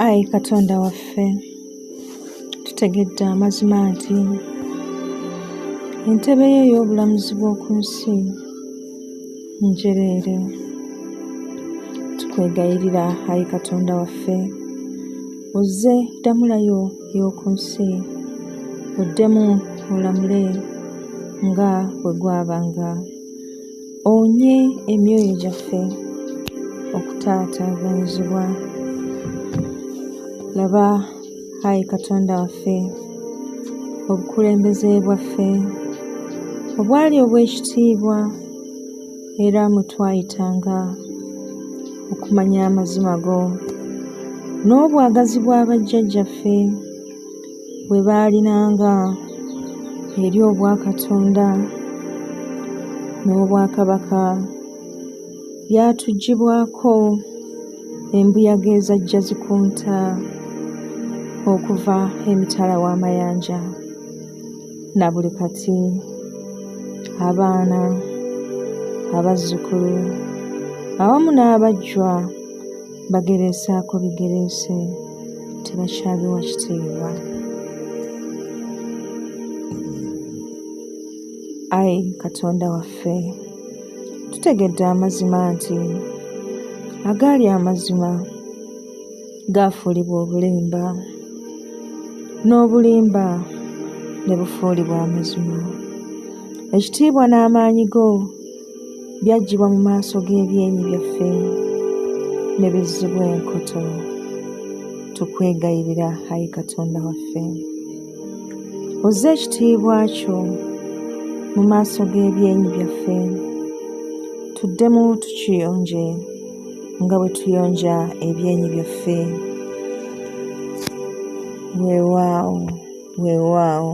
Ayi Katonda waffe, tutegedde amazima nti entebe yo ey'obulamuzi bw'oku nsi njereere. Tukwegayirira, ayi Katonda waffe, ozze ddamula yo ey'oku nsi, oddemu olamule nga bwe gwabanga. Owonye emyoyo gyaffe okutaataaganyizibwa. Laba, ayi Katonda waffe, obukulembeze bwaffe obwali obw'ekitiibwa era mwe twayitanga okumanya amazima go n'obwagazi bwa bajjajjaffe. bwe baalinanga eri obwakatonda n'obwakabaka byatugibwako embuyaga ezajja zikunta okuva emitala w'amayanja na buli kati abaana abazzukulu awamu n'abajjwa bagereesaako bigereese tebakyabiwa kitiibwa ayi katonda waffe tutegedde amazima nti agaali amazima gaafuulibwa obulimba n'obulimba ne bufuulibwa amazima ekitiibwa n'amaanyi go byaggyibwa mu maaso g'ebyenyi byaffe ne bizzibwa enkoto tukwegayirira ayi katonda waffe ozze ekitiibwa kyo mu maaso g'ebyenyi byaffe tuddemu tukiyonje nga bwe tuyonja ebyenyi byaffe weewaawo weewaawo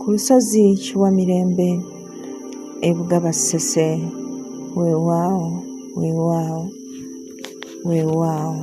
Ku lusozi Kiwamirembe e Bugaba Ssese, weewaawo, weewaawo, weewaawo.